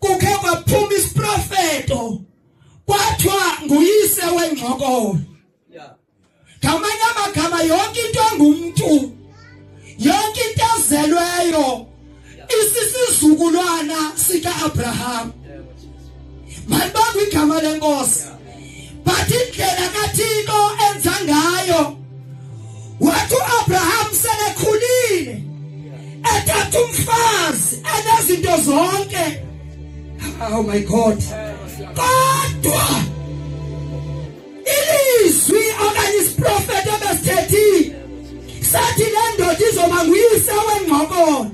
kukhe kwaphuma isiprofeto kwathiwa nguyise wengxokolo ngamanye amagama yonke into engumntu yonke into ezelweyo isisizukulwana sika-abraham malibanga igama lenkosi but indlela kaThixo enza ngayo wathi uAbraham selekhulile ethatha umfazi enezinto zonke oh my god kodwa ilizwi okanye isiprofeto ebesithethile sathi le ndoda izoba nguyise wengqokolo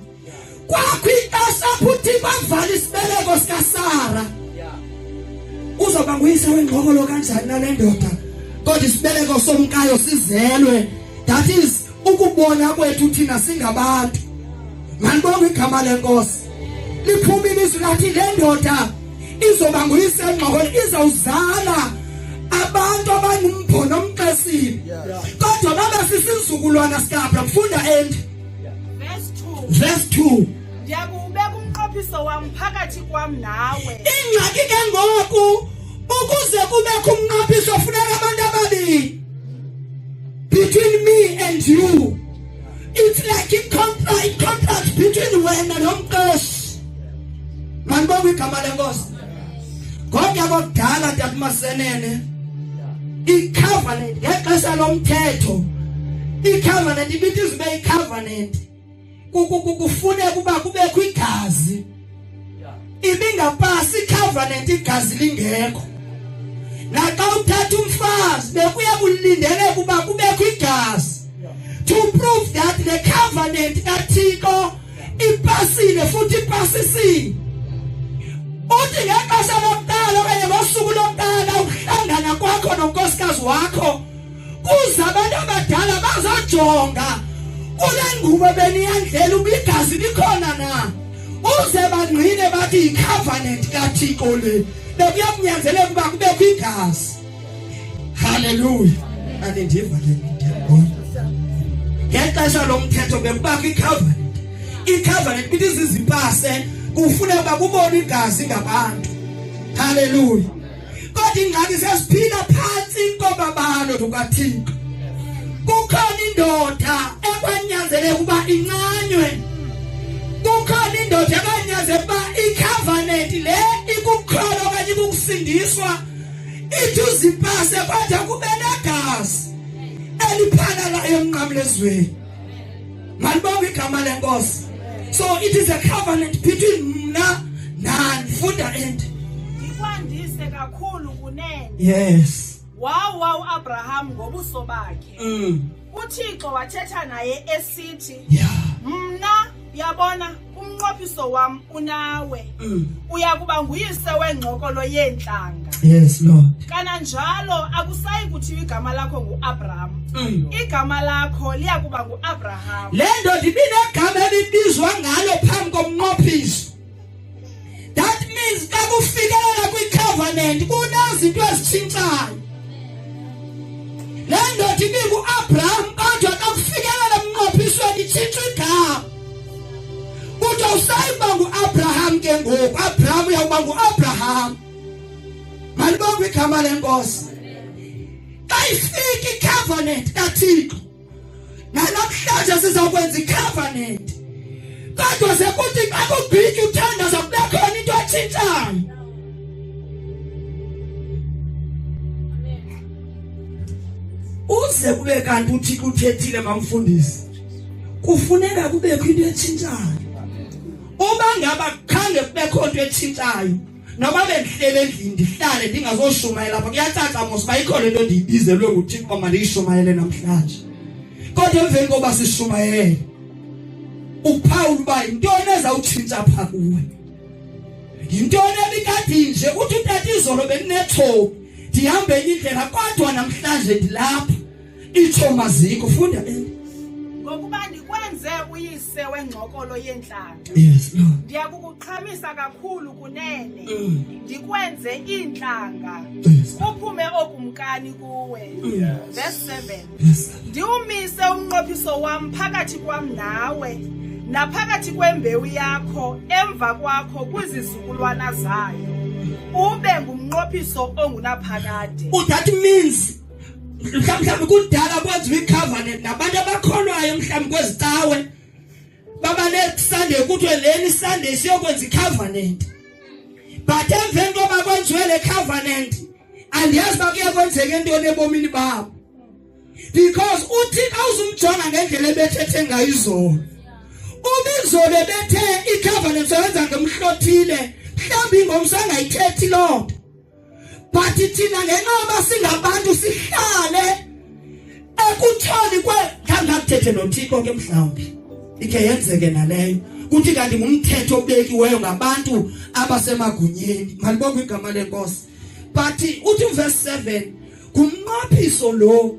kwakwixesha futhi bavala isibeleko sikasara uzoba nguyise wengqokolo kanjani nale ndoda kodwa isibeleko somkayo sizelwe that is ukubona kwethu thina singabantu manibonga igama lenkosi liphumile izwi lathi le ndoda izoba nguyise engqokolo izawuzala abantu abangumbhono omxesile kodwa babesisizukulwana sikaAbraham funda endi Verse 2. Verse 2. Ndiyakubeka umnqophiso wam phakathi kwam nawe. Ingxaki ke ngoku ukuze kubekho umnqophiso funeka abantu ababili. Between me and you. It's like a contract, contract between wena nomqeshi. Mandibonga igama lenkosi. kodwa kodala takumasenene icovenant ngexesha lomthetho icovenant ibithi izibe icovenant kukufuneka uba kubekho igazi ibingapasi icovenant igazi lingekho naxa uthatha umfazi bekuya kulindeleka uba kubekho igazi to prove that the covenant kaThixo ipasile futhi ipasisile uthi ngexesha lokuqala okanye ngosuku lokuqala ukuhlangana kwakho nonkosikazi wakho kuza abantu abadala bazojonga kule ngubo beniyandlela ubigazi likhona na uze bangqine bathi yicovenant kathixo le bekunyanzeleka ukuba kubekho igazi haleluya anendiva ke ndiyabona ngexesha lomthetho bekubakho icovenant icovenant bithi zizimpase kufuneka uba kubona igazi ngabantu haleluya kodwa ingxaki sesiphila phansi inkoba balo lukathixo kukhona indoda ekwanyanzeleka uba incanywe kukhona indoda ekwanyanzeleka uba icovenant le ikukholwa okanye ikukusindiswa ithi uzipase kwade kube negazi eliphanalayo emnqamlezweni malibonga igama lenkosi so it is a covenant between mna nani funda endi ndikwandise kakhulu kunene yes wawa uAbraham ngobuso bakhe mm. uthixo wathetha naye esithi mna uyabona umnqophiso wam unawe mm. uya kuba nguyise wengcokolo yeentlanga yes lord kananjalo akusayi kuthiwa igama lakho nguabraham mm. igama lakho liya kuba nguabraham le ndoda ibinegama elibizwa ngalo phambi komnqophiso that means xa kufikelela kwicovenant kunezinto ezitshintshayo le ndoda ibinguabraham kodwa xa kufikelela emnqophisweni itshintsha igama kuthiwa usayiba nguabraham ke ngoku abraham uyawuba nguabraham malibongwe igama lenkosi xa ifika icovenant kathixo Namhlanje sizokwenza i-covenant. Kodwa sekuthi xa kubhiki uthandaza kube khona into etshintshayo. Uze kube kanti uthi kuthethile mamfundisi. Kufuneka kubekho into etshintshayo. Uma ngaba khange kubekho into etshintshayo noba bendihleli endlini ndihlale ndingazoshumayela apha kuyacaca mos uba ikhona into endiyibizelwe nguthixo uba mandiyishumayele namhlanje kodwa emveni koba sishumayele uphawula uba yintoni ezawutshintsha pha kuwe yintoni ebikade nje uthi utata izolo bendinethobi ndihamba enye indlela kodwa namhlanje ndilapha Itsho maziko funda eh. Ngokuba ndikwenze uyise wengxokolo yeentlanga. Yes Lord. Ndiyakukuqhamisa kakhulu kunene. Mm. Ndikwenze iintlanga. Yes. Kuphume okumkani kuwe. Yes. Verse 7. Yes. Ndiwumise umnqophiso wam phakathi kwam nawe. Naphakathi kwembewu yakho emva kwakho kwizizukulwana zayo. Ube ngumnqophiso ongunaphakade. That means mhlawumbi kudala kwenziwa icovenant nabantu abakholwayo mhlawumbi kwezi cawe baba nesunday kuthiwe leni sunday siyokwenza icovenant but emveni koba kwenziwe le covenant andiyazi uba kuye kwenzeka entoni ebomini babo because uthixo awuzumjonga ngendlela ebethethe ngayo izolo ubizolo ebethe icovenant soyenza ngemhlothile mhlawumbi ingomso angayithethi loo nto but thina ngenoba singabantu sihlale ekuthoni kwe ngangakuthethe nothixo ke mhlawumbi ikhe yenzeke naleyo kuthi kanti ngumthetho obekiweyo ngabantu abasemagunyeni malibonga igama lenkosi but uthi uvesi 7 ngumnqophiso lo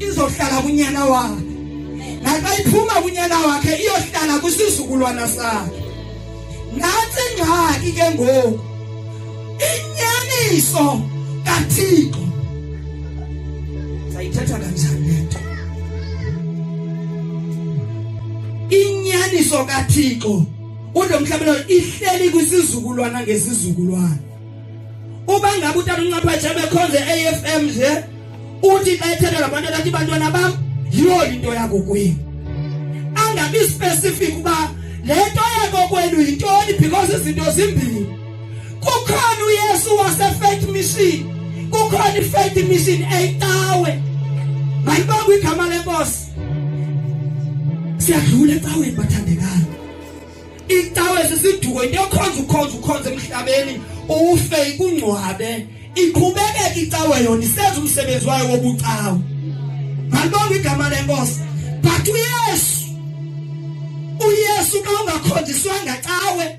izohlala kunyana wakhe naxa iphuma kunyana wakhe iyohlala kwisizukulwana sakhe nantsi ingxaki ke ngoku inyaniso kathixo sayithetha kanjani le nto inyaniso kathixo unomhlabelo ihleli kwisizukulwana ngesizukulwana uba ngabe utata uncaphetshe bekhonze afm nje uthi xa ethetha ngabantwana athi bantwana bam yiyo into yakokwenu angabi specific uba le nto yakokwenu yintoni because izinto zimbini kukhona uyesu wasefet mission kukhona ifet mission eyicawe mayibongwe igama lenkosi siyadlula ecaweni bathandekayo icawe sisiduko into yokhonza ukhonza ukhonza emhlabeni ufe ikungcwabe iqhubekeka icawe yona isenza umsebenzi wayo wobucawe ngalibonga igama lenkosi but uyesu uyesu ka ungakhonjiswanga cawe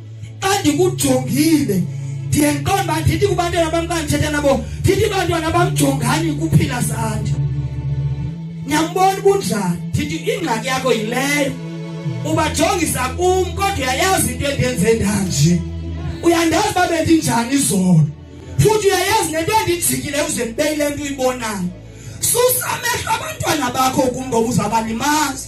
xa ndikujongile ndiye ndiqonde uba ndithi kubantwana bam xa ndithetha nabo ndithi bantwana bamjongani kuphila sandi niyambona ubunjani ndithi ingxaki yakho yileyo ubajongisa kum kodwa uyayazi into endenze ndanje uyandazi uba bendinjani izolo futhi uyayazi nento endijikile uze ndibeyile nto uyibonayo susa amehlo abantwana bakho kum ngoba uzabalimazi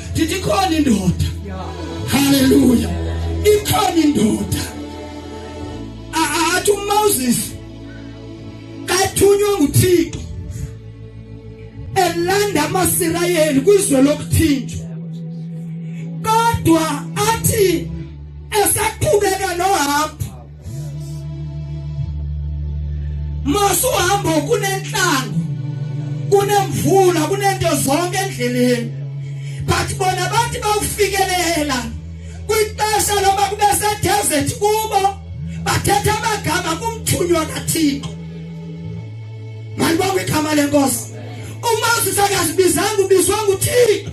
ndithi ikhona indoda haleluya ikhona indoda athi uMoses kathunywa nguThixo elanda amaSirayeli kwizwe lokuthinjwa kodwa athi esaqhubeka nohambo masuhambo kunentlango kunemvula kunento zonke endleleni but bona bathi bawufikelela kwixesha loba kube sedesert kubo bathetha amagama kumthunywa kathixo mandibonga igama lenkosi umoses akazibizanga ubizwa nguthixo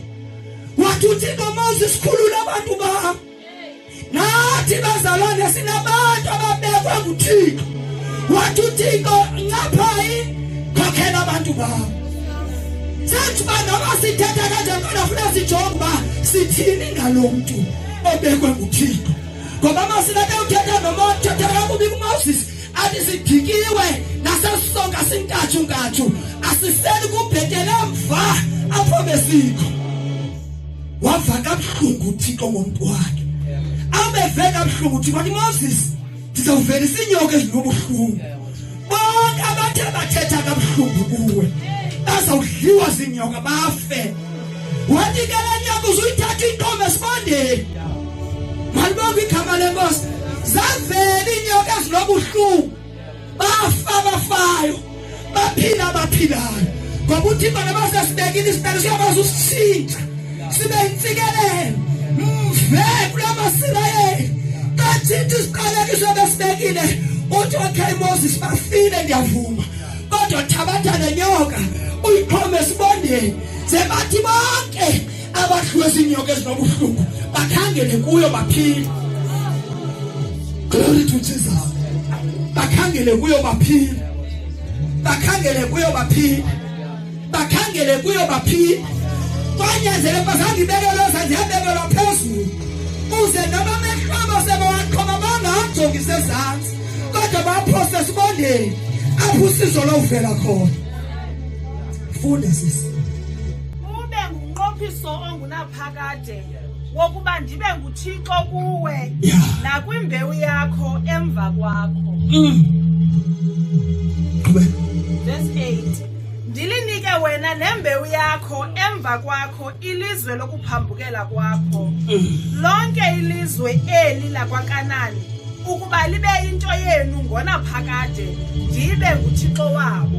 wathi uthixo moses khulula abantu bam nathi bazalwane sinabantu ababekwa nguthixo wathi uthixo ncaphayi khokhela abantu babo senthi uba noba sithetha kanjani kodwa funa sijonge uba sithini ngalo mntu obekwe nguthixo ngoba masinade uthetha noma uthetha kakubi kumoses athi sidikiwe nasesisonka sintathu ntathu asiseli kubhetele mva apho besikho wava kabuhlungu uthixo ngomntu wakhe abeve kabuhlungu uthixo wathi moses ndizawuvelisa iinyoka ezinobuhlungu bonke abathe bathetha kabuhlungu kuwe bazawudliwa ziinyoka bafe wathi ke le nyoka uzuyithatha inkomo esibandeni malibonga igama lenkosi zavela iinyoka ezinobuhlungu bafa bafayo baphila abaphilayo ngoba uthimba nabasesibekile isibhelo siyakwazi usishintsha sibe yintsikelelo mve kula masirayeli kathinta isiqalekiso besibekile uthi okay moses bafile ndiyavuma kodwa thabatha nenyoka uyiphome esibondeni sebathi bonke abadliwe ziinyoka ezinobuhlungu bakhangele kuyo baphile glory to jesus bakhangele kuyo baphile bakhangele kuyo baphile bakhangele kuyo baphile kwanyanzele bazange ibekelwe zanje yabekelwa phezulu uze noma mehlobo sebawaqhoma bangajongi sezantsi kodwa baphose sibondeni apho usizo lowuvela khona funde sisi ube ngumnqophiso ongunaphakade wokuba ndibe nguthixo kuwe nakwimbewu yakho emva kwakho mm. verse 8 ndilinike wena nembewu yakho emva kwakho ilizwe lokuphambukela kwakho mm. lonke ilizwe eli lakwakanani ukuba libe into yenu ngona phakade ndibe nguthixo wabo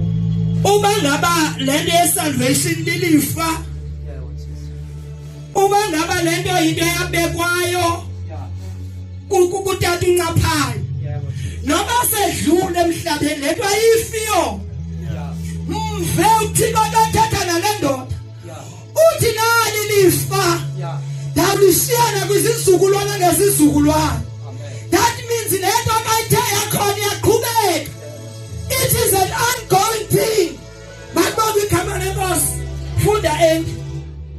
uba ngaba le nto yesalvation lilifa uba ngaba le nto yinto eyabekwayo kutata uncaphayo noba sedlule emhlabeni le nto ayifiyo mve uthixo akathetha nale ndoda uthi nali lifa ndalishiyana kwizizukulwana ngezizukulwana that means le nto kayithe yakhona iyaqhubeka it is an ongoing thing makubonga igama lenkosi funda enki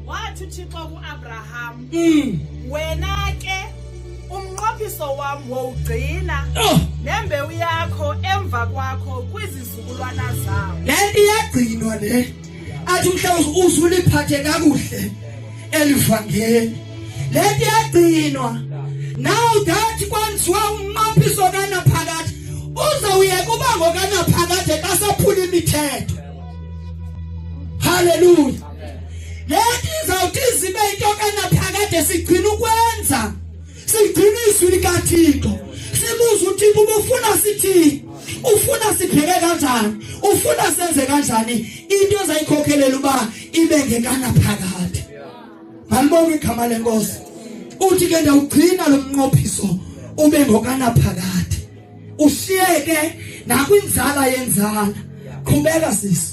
wathi uthixo kuabraham mm. wena ke umnqophiso wam wowugcina oh. nembewu yakho emva kwakho kwizizukulwana zawo le nto iyagcinwa le athi mhlawumbe uzuliphathe kakuhle elivangeli lento yagcinwa now that kwenziwa umnqophiso kanaphakade uzawuyeka uba ngokanaphakade xa saphula imithetho haleluya lento izawuthi izibe into kanaphakade sigcina ukwenza Sigcina izwi likaThixo. Sibuze uThixo ubufuna sithini? Ufuna siphele kanjani? Ufuna senze kanjani? Into ezayikhokhelela uba ibe ngekana phakathi. Malibonga igama lenkosi. Uthi ke ndawugcina lo mnqophiso ube ngokana phakathi. Ushiyeke nakwinzala yenzala. Qhubeka sisi.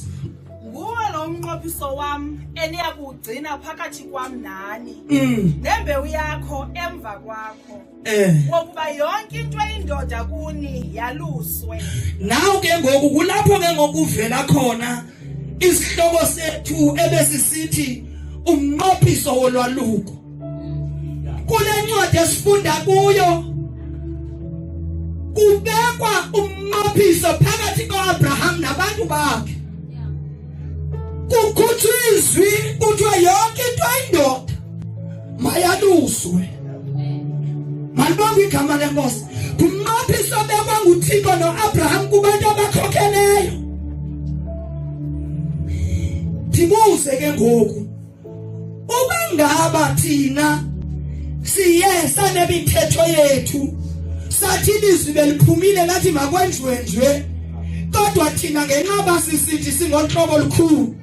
nguwe lo mnqophiso wam eniya kuwugcina phakathi kwam nani Mm. nembewu yakho emva kwakho Eh. wokuba yonke into eyindoda kuni yaluswe Naw ke ngoku kulapho ke ngokuvela khona isihloko sethu ebesisithi umnqophiso wolwaluko. kule ncwadi esifunda kuyo kubekwa umnqophiso phakathi koAbraham nabantu bakhe kukhutshwa izwi kuthiwa yonke into ayindoda mayaluswe malibonga igama lenkosi ngumnqophiso obekwa nguthixo noabraham kubantu abakhokheleyo ndibuze ke ngoku Uma ngaba thina siye sanemithetho yethu sathi ilizwi beliphumile lathi makwenziwe nje kodwa thina ngenqaba sisithi singohlobo olukhulu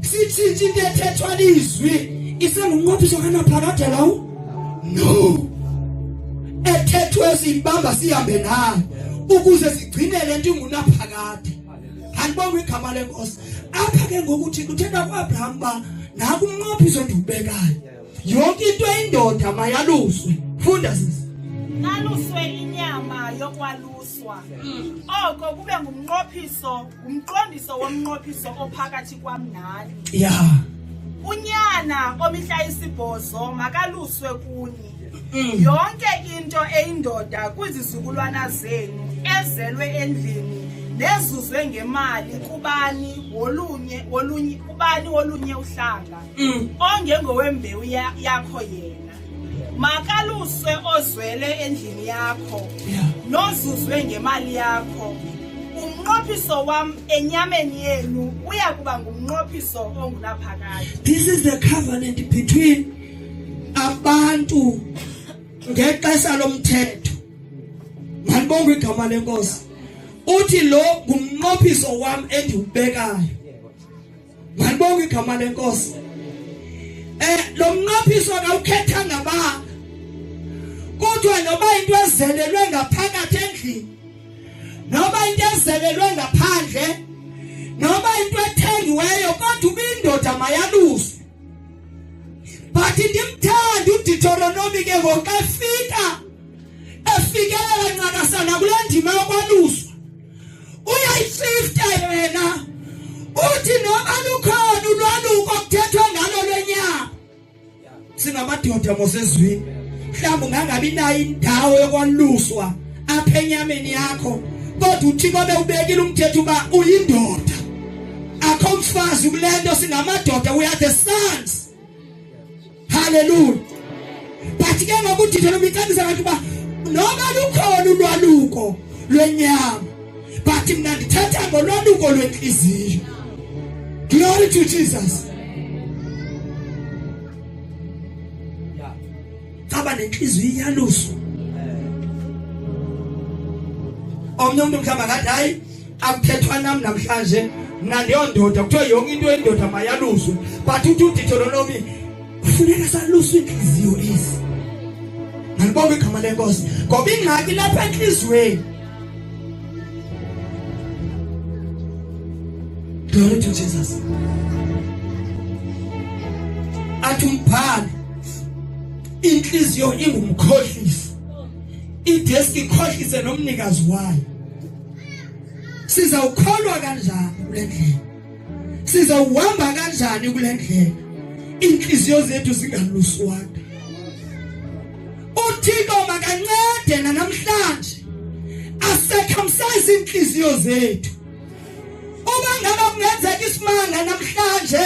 sithintshe into ethethwa lizwi isengumnqophiso kanaphakade lawo no ethethwe siyibamba sihambe nayo ukuze sigcine lento ingunaphakade andibongo igama lenkosi apha ke ngoku thixo uthetha kuabraham uba naku umnqophiso endiwubekayo yonke into endoda mayaluswe funda sisi aluswe inyama yokwaluswa oko kube ngumnqophiso ngumqondiso womnqophiso ophakathi kwam nani ya unyana omihla isibhozo makaluswe kunye mm. yonke into eyindoda kwizizukulwana zenu ezelwe endlini nezuzwe ngemali kubani wolunye wolunye kubani wolunye uhlanga mm. ongengowembewu yakho yena makaluswe ozwele endlini yakho nozuzwe ngemali yakho umnqophiso wam enyameni yenu uya kuba ngumnqophiso ongunaphakade this is the covenant between abantu ngexesha lomthetho mandibonga igama lenkosi uthi lo ngumnqophiso wam endiwubekayo mandibonga igama lenkosi eh lo mnqophiso akawukhethanga ba kodwa noba into ezelelwe ngaphakathi endlini noba into ezelelwe ngaphandle noba into ethengiweyo kodwa ubindoda mayaluswe but ndimthanda uditoronomi ke ngoku xa efika efikelela ncakasana kule ndima yokwaluswa uyayififta yena uthi noba lukhona ulwaluko kuthethwe ngalo lwenyama singamadoda mosezwini mhlawumbi ungangabi nayo indawo yokwaluswa apha enyameni yakho kodwa uthixo bewubekile umthetho uba uyindoda akho mfazi kule nto singamadoda we are the sons haleluya but ke ngoku uthetha lo micebisa abantu uba noba lukhona ulwaluko lwenyama but mna ndithetha ngolwaluko lwentliziyo glory to jesus saba nentliziyo iyaluso omnye umntu mhlawumbi akathi hayi akuthethwa nam namhlanje mna ndiyondoda kuthiwa yonke into yendoda mayaluswe but uthi uditholonomi kufuneka saluswe iintliziyo ezi nalibonga igama lenkosi ngoba ingxaki lapha entliziyweni glory to jesus athi umbhali inhliziyo ingumkhohlisi idesk ikhohlise nomnikazi wayo sizawukholwa kanjani kule ndlela sizawuhamba kanjani kule ndlela inhliziyo zethu zingaluswanga uthixo makancede nanamhlanje asecamsize inhliziyo zethu uma ngaba kungenzeka isimanga namhlanje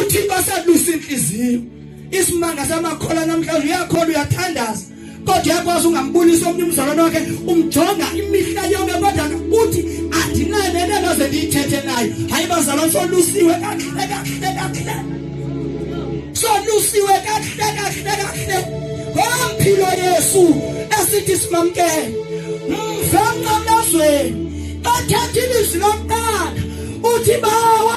uthixo asadusa inhliziyo isimanga samakhola namhlanje uyakhola uyathandaza kodwa yakwazi ungambulisa omnye umzalwane wakhe umjonga imihla yonke kodwa uthi andinanele noze ndiyithethe nayo hayi bazalwane solusiwe kakuhle kakuhle kakuhle solusiwe kakuhle kakuhle kakuhle ngompilo yesu esithi simamkele mfenqamazweni bathatha ilizwi lokuqala uthi bawa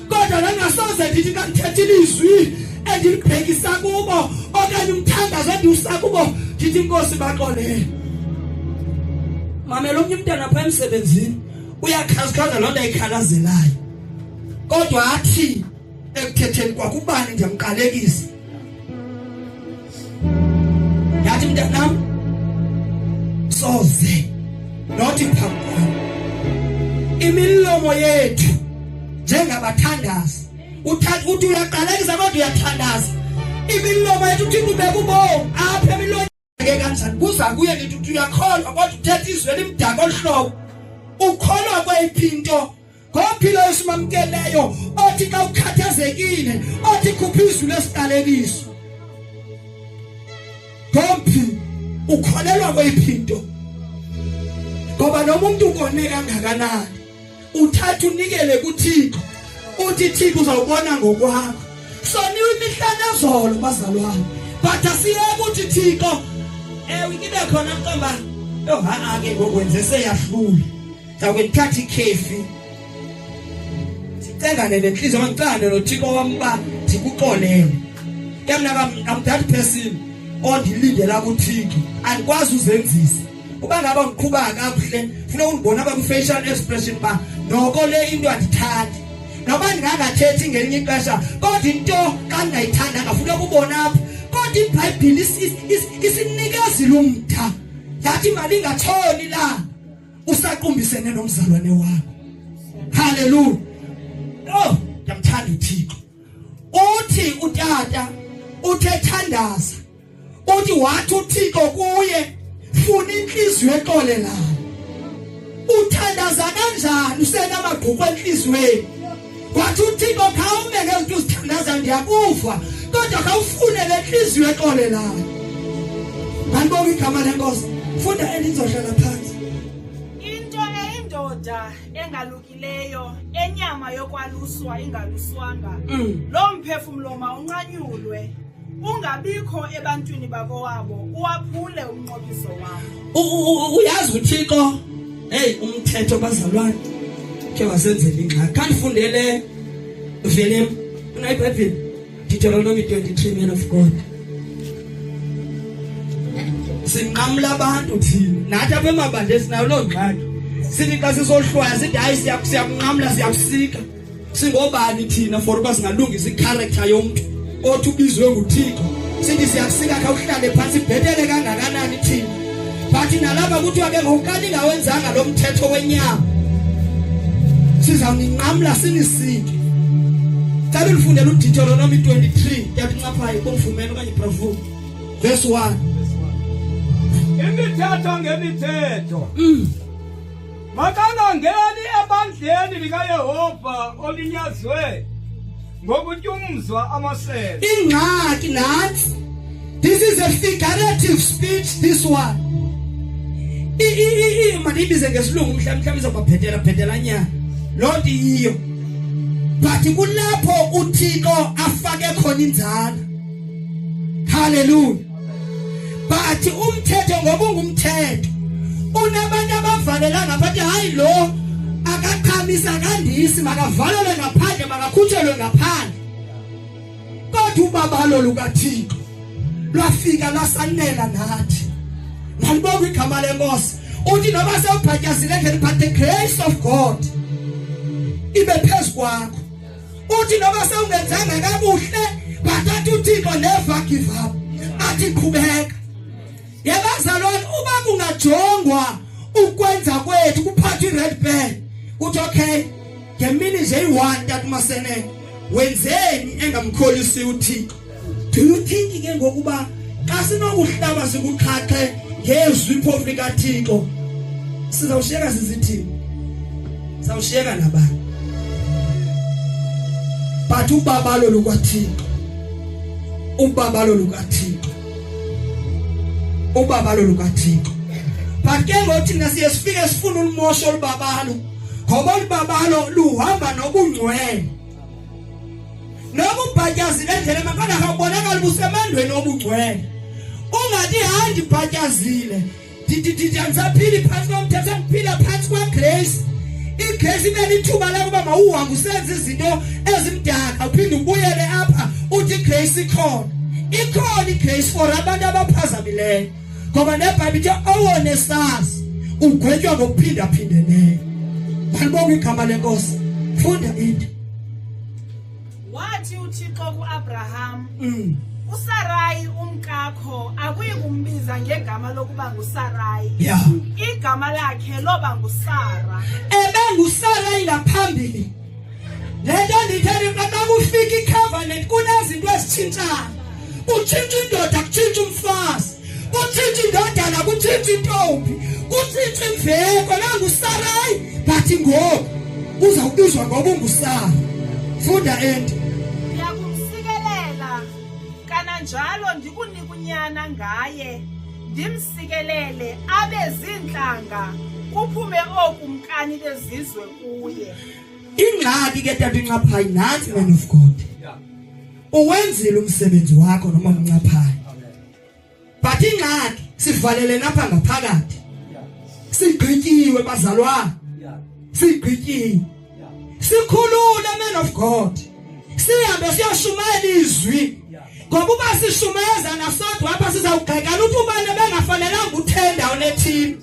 kodwa ndangasoze ndithi xa ndithetha ilizwi endilibhekisa kubo okanye umthandazo endiwusa kubo ndithi inkosi baxolele mamela omnye umntana phaa emsebenzini uyakhazikhaza loo nto ayikhalazelayo kodwa athi ekuthetheni kwakubani ndiyamqalekisa Yathi mntanam soze nothi phambi kwam imilomo yethu njengabathandazi uthi uyaqalekisa kodwa uyathandaza imilomo yethu uthi kubeka ubomi apha emilonyeni ke kanjani kuza kuye ngithi uthi uyakholwa kodwa uthetha izwi elimdaka olu hlobo ukholwa kweyiphi into Ngophilo esimamkeleyo othi xa ukhathazekile othi khupha izwi lesiqalekiso. Ngomphi ukholelwa kweyiphi into? Ngoba noma umuntu ukone kangakanani uthatha unikele kuThixo uthi Thixo uzawubona ngokwakho. Soniwe imihlane zolo bazalwane. But asiyeke ukuthi Thixo ewe kibe khona mqamba. Yo ha ake ngokwenze seyahlula. Ndawukuthatha ikhefi. Sicengane nenhliziyo ngicane noThixo wami ba ndikuxolele. Ke mina I'm that person ondilindela kuThixo. Andikwazi uzenzisa. Uba ngaba ngiqhuba kakuhle, funa ungibona ba ku facial expression ba noko le into andithandi. Noba ndingangathethi ngelinye ixesha, kodwa into kangayithandanga funa kubona apha. Kodwa iBhayibhile isinikezile umtha. Yathi imali ingatshoni la. usaqumbisene nomzalwane wakho haleluya oh ngiyamthanda uThixo uthi utata uthethandaza uthi wathi uThixo kuye funa inhliziyo exolelayo uthandaza kanjani usenamagqubu enhliziyweni wathi uthixo khawumeke uthi uzithandaza ndiyakufa kodwa khawufune le ntliziyo exolelayo mandibonga igama lenkosi funda endinzohlala phantsi into eyindoda engalukileyo enyama yokwaluswa ingaluswanga mm. loo mphefumlo mawunqanyulwe ungabikho ebantwini bakowabo uwaphule umnqobiso wabo uyazi uthixo heyi umthetho bazalwane khe wasenzela ingxaki khandifundele velem unayibhayibhile deuteronomy 23 man of god sinqamla abantu thina nathi apha emabandle sinayo loo ngxaki sithi xa sisohlwaya sithi hayi siyakunqamla siyakusika singobani thina for uba singalungisa ikharektha yomntu othi ubizwe nguthixo sithi siyakusika khawuhlale phantsi ibhetele kangakanani thina but nalapha kuthiwa ke ngokukani ngawenzanga lo mthetho wenyama sizawuninqamla sinisike cela ulifundela uditoronomi 23 yabincaphayo kumfumela okanye iprofumu verse 1 imithetho ngemithetho mm. Makangangeni ebandleni likaYehova olinyazwe ngokutyumzwa amasebe. Ingxaki nansi. This is a figurative speech this one. I i i manibize ngesilungu mhlawumbe mhlawumbe izobaphetela phetela nya. Lo nto yiyo. But kulapho uThixo afake khona inzalo. Hallelujah. but umthetho ngoba ungumthetho unabantu abavalela ngaphakathi hayi lo akaqhamisa kandisi makavalelwe ngaphandle makakhutshelwe ngaphandle kodwa ubabalo lukathixo lwafika lasanela nathi nalibonga igama lenkosi uthi noba sewubhatyazile ngeliphathe grace of god ibe phezu kwakho uthi noba sewungenzanga kabuhle bathatha uthixo neva give up athi qhubeka yebazalwane uba kungajongwa ukwenza kwethu kuphatha i-red band uthi okay ngemini nje yi-one tata umasenene wenzeni engamkholisi uthixo do you think ke ngokuba xa sinokuhlaba sikuqhaqhe ngezwi phofu likathixo sizawushiyeka sizithini sizawushiyeka nabani but ubabalo lukathixo ubabalo lukathixo ubabalo lukathixo but ke ngothi thina siye sifike sifuna ulumosho olubabalo ngoba olubabalo luhamba nokungcwele Noma ubhatyazi lendlela makona akabonakala busemandweni obugcwele. Ungathi handi bhatyazile. Didididi angisaphili phansi komthetho angiphila phansi kwa grace. igrace imele ithuba lakuba mawuhambe usenze izinto ezimdaka uphinde ubuyele apha uthi grace ikhona ikhona igrace for abantu abaphazamileyo ngoba nebhayibhile ithi owone sazi ugwetywa ngokuphindaphindeneyo balibonga igama lenkosi funda into wathi uthixo kuabraham mm. usarayi umkakho akuyi kumbiza ngegama lokuba ngusarayi yeah. igama lakhe loba ngusara ebengusarayi ngaphambili le nto ndiyithele xa kufika icovenant kunezinto ezitshintshayo kutshintsha indoda kutshintsha umfazi kutshintsha indodana kutshintsha intombi kutshintsha imveko nangusarayi but ngoku uzawubizwa ngoba ungusara funda ento ndiyakumsikelela kananjalo ndikunike unyana ngaye ndimsikelele abe ziintlanga kuphume oku mkani bezizwe kuye ingxaki ke tata incaphayi nansi man of god uwenzile umsebenzi wakho noma mncaphayi but ingxaki sivalele napha ngaphakathi sigqityiwe bazalwana sigqityiwe sikhulule man of god sihambe siyashumayela izwi ngoba uba sishumayeza nasodwa apha sizawugxekana ukuthi ubani bengafanelanga uthenda unethini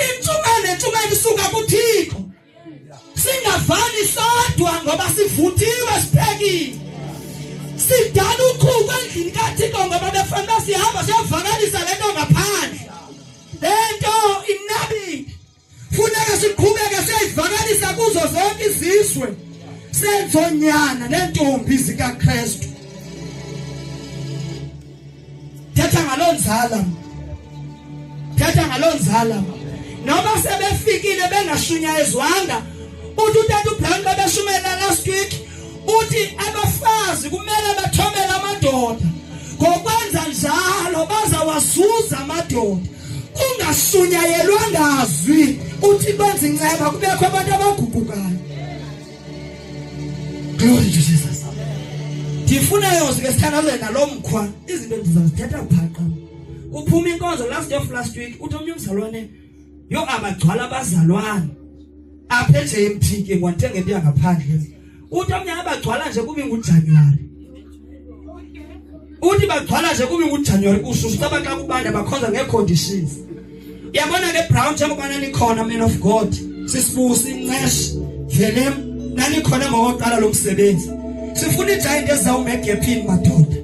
Intshumayelo nentshumayelo isuka kuThixo. Singavani sodwa ngoba sivuthiwe siphekile. Sidala ukhuku endlini kaThixo ngoba befanele sihamba siyovakalisa lento ngaphandle. Lento inabile. Funeka siqhubeke siyivakalisa kuzo zonke izizwe. Senzonyana nentombi zikaKristu. Thetha ngaloo nzala, thetha ngaloo nzala. Noba sebefikile bengashunyayezwanga, uthi utata uBrown babeshumayela last week, uthi abafazi kumele bathomele amadoda. Ngokwenza njalo bazawazuza amadoda. Ungashunyayelwa ngazwi, uthi benza inceba kubekho abantu abaguqukayo. Glory to Jesus. Ndifuna yona sike sithandaze nalo mkhwa izinto ndizazithetha phaqa. Uphuma inkonzo last of last week uthi omnye umzalwane yo abagcwala abazalwane apha eJMT ke ngwathenga into yangaphandle uthi omnye abagcwala nje kube nguJanuary uthi bagcwala nje kube nguJanuary ususa abaxa kubanda bakhonza ngeeconditions yabona ke brown njengoba nanikhona man of god sisibusi inceshe velem nanikhona ngokoqala lo msebenzi sifuna ijayinto ezawume egephini madoda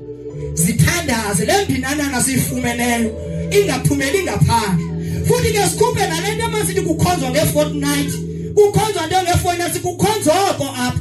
zithandaze le mbinanana siyifumeneyo ingaphumeli ngaphandle futhi ke sikhuphe nale nto emasithi kukhonzwa nge-fortnight kukhonzwa nto nge-fortnight kukhonzwa oko apha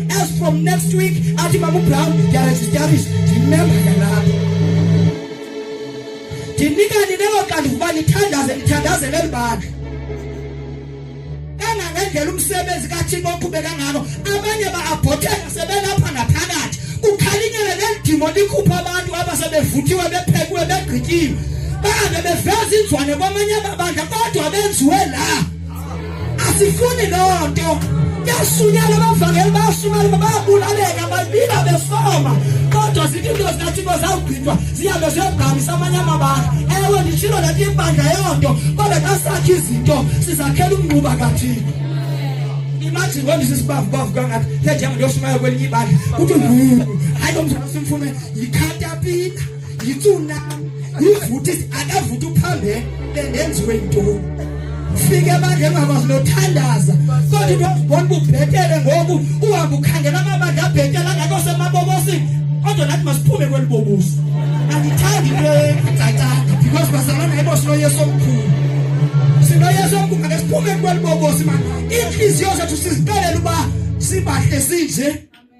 As from next week, ati mamu plan, there is, there is, remember the lab. Tinika ni newa kandu kubani tandaze, tandaze lel bag. Kana ngendela umsebenzi kaThixo oqhubeka ngalo, abanye ba aborteka sebelapha ngaphakathi. Kukhalinyele lendimo likhupha abantu abasebevuthiwe bephekwe begqityiwe. Babe beveza inzwane kwamanye amabandla kodwa benziwe la. asifuni loo nto yasunyala abavangeli bayasumela bayabulaleka babila besoma kodwa zithi into zikathixo zawugqitywa zihambe ziyogqamisa amanye amabanga ewe nditshilo le nto ibandla yoo nto kodwa xa sakhe izinto sizakhela umngquba kathixo imagine when this is bavu bavu kangathi njenjengoyoshumayela kwelinye ibandla kuthi hayi lo mzana simfune yikhatapita yitsuna yivuthi akavuthi uphambe bendenziwe yintoni fike bandla engakwazi nothandaza kodwa into ozibona ububhetele ngoku uhambe ukhangela amabandla abhetele angakho semabobosini kodwa nathi masiphume kweli bobuso andithandi into engacacanga because bazalana ibosilo yesu omkhulu sinoyesu omkhulu ake siphume kweli bobosi mani iintliziyo zethu siziqalela uba sibahle sinje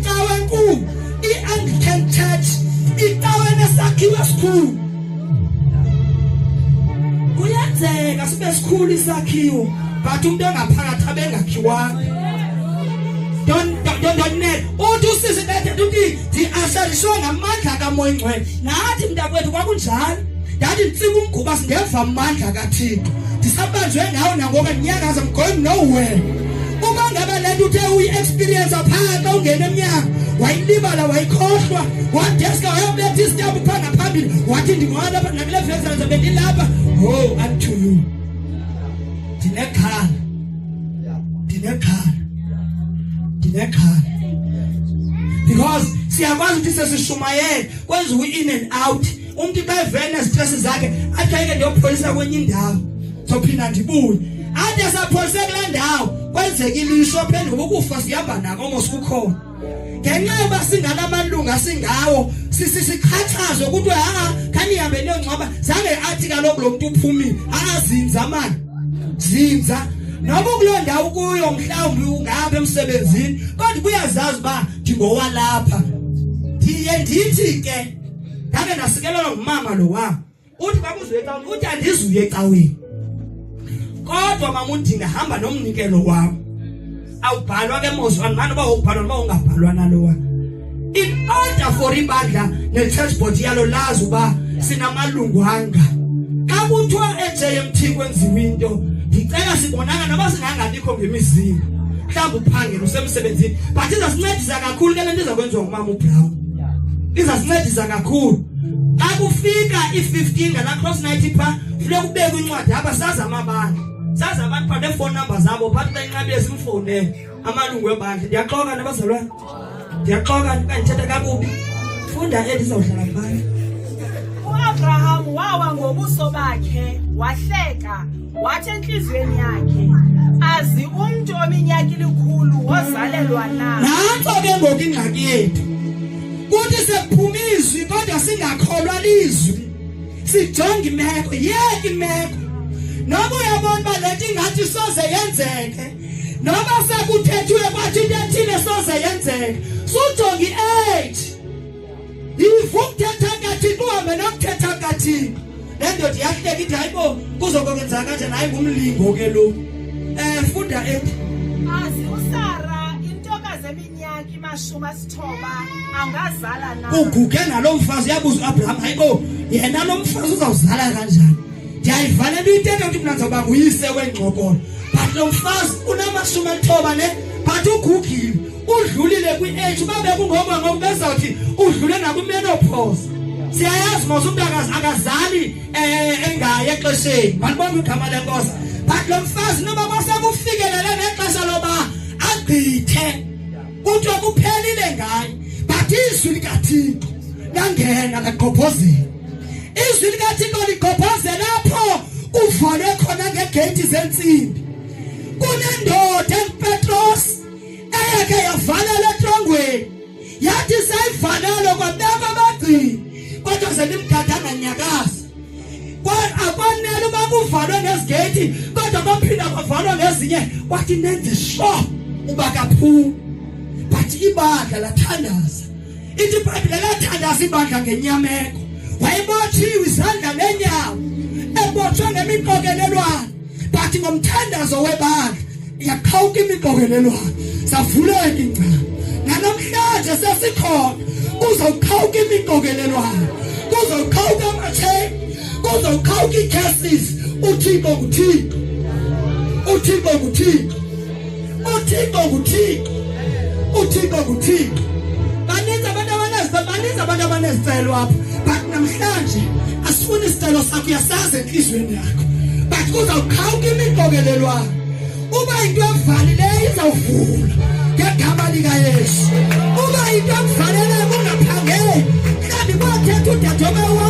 icawe enkulu i-anglican church icawe nesakhiwo esikhulu kuyenzeka sibe sikhulu isakhiwo but umuntu engaphakathi abengakhiwanga don't don't don't net uthi usisi bethe uthi ndiashariswe ngamandla kamoya ingcwele nathi mntakwethu kwakunjalo ndathi nditsika umguba singeva amandla kathixo ndisabanjwe ngawo nangoba ndinyakaza mgoyi nowhere uba ngaba le nto uthe uyi-experiensa phaa xa ungena emnyango wayilibala wayikhohlwa wadeska wayobetha isityambu phaa ngaphambili wathi ndingowalapha nakule vesanza bendilapha ho oh, unto you ndinexhala ndinexhala ndinexhala because siyakwazi ukuthi sesishumayele kwenziwa i-in and out umntu xa evele nezitresi zakhe athi ayike ndiyopholisa kwenye indawo zophinda ndibuye athi esapholise kule ndawo kwenzeka ilisho phendula uba ukufa sihamba nako mos kukhona ngenxa yoba singala amalunga singawo sisixhatshazwe kuthiwe ha khanihambe niyongcwaba zange athi kaloku lo mntu uphumile ha zinza mani zinza noma kuloo ndawo kuyo mhlawumbi ungapha emsebenzini kodwa kuyazazi uba ndingowalapha ndiye ndithi ke ndake ndasikelelwa ngumama lo wam uthi bakuzuye ecaweni uthi andizuye ecaweni kodwa mama uthi ndihamba nomnikelo wam awubhalwa ke mozwa andimane uba wokubhalwa noba ungabhalwa nalowa in order for ibandla ne-church board yalo lazi uba sinamalungu anga xa kuthiwa ejmt kwenziwa into ndicela sibonanga noba singangabikho ngemizini mhlawumbi uphangela usemsebenzini but izasincedisa kakhulu ke le nto izakwenziwa ngumama ubrown izasincedisa kakhulu akufika i15 ngala cross night pha funeka ubeke incwadi apha saza amabandla saza abantu pha nephone number zabo phathi benqabi esimfone amalungu ebandla ndiyaxoka nabazalwana ndiyaxoka ndithetha kakubi funda endizawuhlala kubani uAbraham wawa ngobuso bakhe wahleka wathi entliziyweni yakhe azi umntu ominyaka ilikhulu wozalelwa na nanto ke ngoku ingxaki yethu kuthi sekuphuma izwi kodwa singakholwa lizwi sijonga imeko yeki imeko noba uyabona uba le nto ingathi soze yenzeke noba sekuthethiwe kwathi into ethile soze yenzeke sujonga i-age ivukuthetha ngathi kuhambe nokuthetha ngathi le ndoda iyahleka ithi hayi bo kuzokwenzeka kanjani hayi ngumlingo ke lo um eh, funda ethi azi usara intokazi eminyaka imashumi asithoba angazala na uguge nalo mfazi uyabuza uabraham hayi bo yena lo mfazi uzawuzala kanjani ndiyayivala into intento ukuthi mna ndizawuba nguyise wengxokolo but lo mfazi unamashumi alithoba ne but ugugile udlulile kwi-age uba bekungoko ngoku bezawuthi udlule nakwimenopause siyayazi mos umntu akazali um engayi exesheni mandibona igama lenkosi but lo mfazi noba kwasekufikelele nexesha loba agqithe kuthiwa kuphelile ngaye but izwi likathixo langena lagqobhozela izwi likathixo ligqobhozela apho kuvale khona ngegeyithi zentsimbi kunendoda engupetrosi eyeke yavalela etrongweni yathi seyivalelo kwabekho abagcini kodwa senimdada anganyakazi akwanele uba kuvalwe nezigeyithi kodwa baphinda kwavalwa ngezinye kwathi nenze sure uba kaphumi but ibandla lathandaza ithi ibhayibhile lathandaza ibandla ngenyameko wayebothiwe izandla nenyawo ebotshwe ngemiqokelelwane but ngomthandazo webandla yaqhawuka imixokelelwano savuleka ingcala nanamhlanje sesikhona kuzawuqhawuka imixokelelwano kuzawuqhawuka amatheki kuzawuqhawuka iicases uthixo nguthixo uthixo nguthixo uthixo nguthixo uthixo nguthixo baninzi abantu abanezibaninzi abantu abanezicelo apha but namhlanje asifuni isicelo sakho uyasazi entliziyweni yakho but kuzawuqhawuka imiqokelelwana uba into evalileyo izawuvula ngegama likayesu uba into ekuvaleleyo kungaphangeli mhlawumbi kwathetha udadebe wam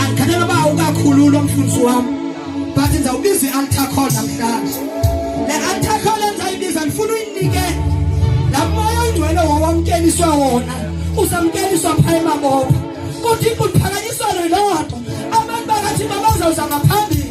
andikhathela uba ukakhulula umfundisi wam but ndizawubiza i-altar call namhlanje le altar call endizayibiza ndifuna uyinike la moya oyingcwele wawamkeliswa wona uzamkeliswa phaa emabopha kodwa inkulu phakanyiswa loo nto abantu bakathi babazawuza ngaphambili